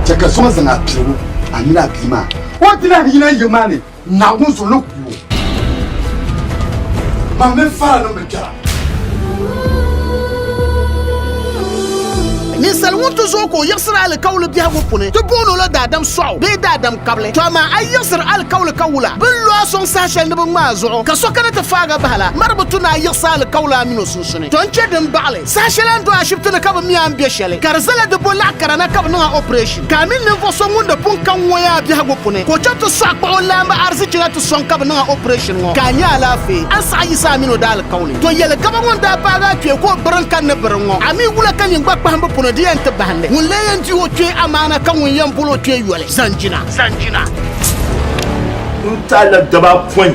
Chɛ ka zuɣu zaŋ apiligu a mini a bia maa. O dila ni yina yiŋ maa ni Naawuni zuɣu ni ku o. Mam mini Fara niŋ bi kpɛra. Ninsal ŋun ti zooi ka o yiɣisiri alikauli biɛhigu puuni, ti booni o la daadam sɔɣu bee daadam kabili. To amaa a yiɣisiri alikauli ka wula, bɛ ni lo a sɔŋ saha shɛli ni bɛ ŋma a zuɣu, ka so kana ti faag a bahi la, mari bi tu ni a yiɣisi alikauli a mini o suhudoo. sunsuuni. Ton kpe din baɣili saha shɛli a ni do ashibiti ni ka bɛ mi a ni be shɛli ka di zala di bo laɣ kara na ka bɛ niŋ a operation ka a mini ninvuɣ so ŋun di pun ka ŋun o yaa biɛhigu puni ka o chaŋ ti sɔɣi kpuɣi o laamba arizichi na ti sɔŋ ka bɛ niŋ a operation ŋɔ ka a nya alaafee a ni saɣi yiɣisi a mini o daalikauli. To yɛli gaba ŋɔ n-daa paagi a kpee ka o biri n-kani ni biri ŋɔ a mi wula ka nyin gba kpahimbu puni di yɛn ti bahindi ŋun lee yɛn di o kpee amaana ka ŋun yɛn bol o kpee yoli zaŋ jina. N taali la gaba apɔin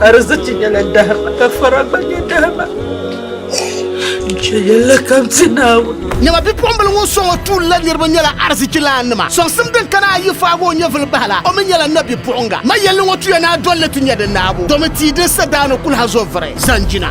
Arziki nyɛla dahima ka fara gba nyɛ dahima. Nche yɛla kam ti Naawuni. Nyɛma bipuɣimbila ŋun sɔŋ o tuuli la niriba nyɛla arzichilaannima. Sɔŋsim din kana ayi faagi o nyɛvili bahi la, o mi nyɛla nabipuɣiŋga. Ma yɛlli ŋɔ tuya ni a dolli ti nya di naabu, domi tia din sa daa ni kul ha zo vuri, zanjina.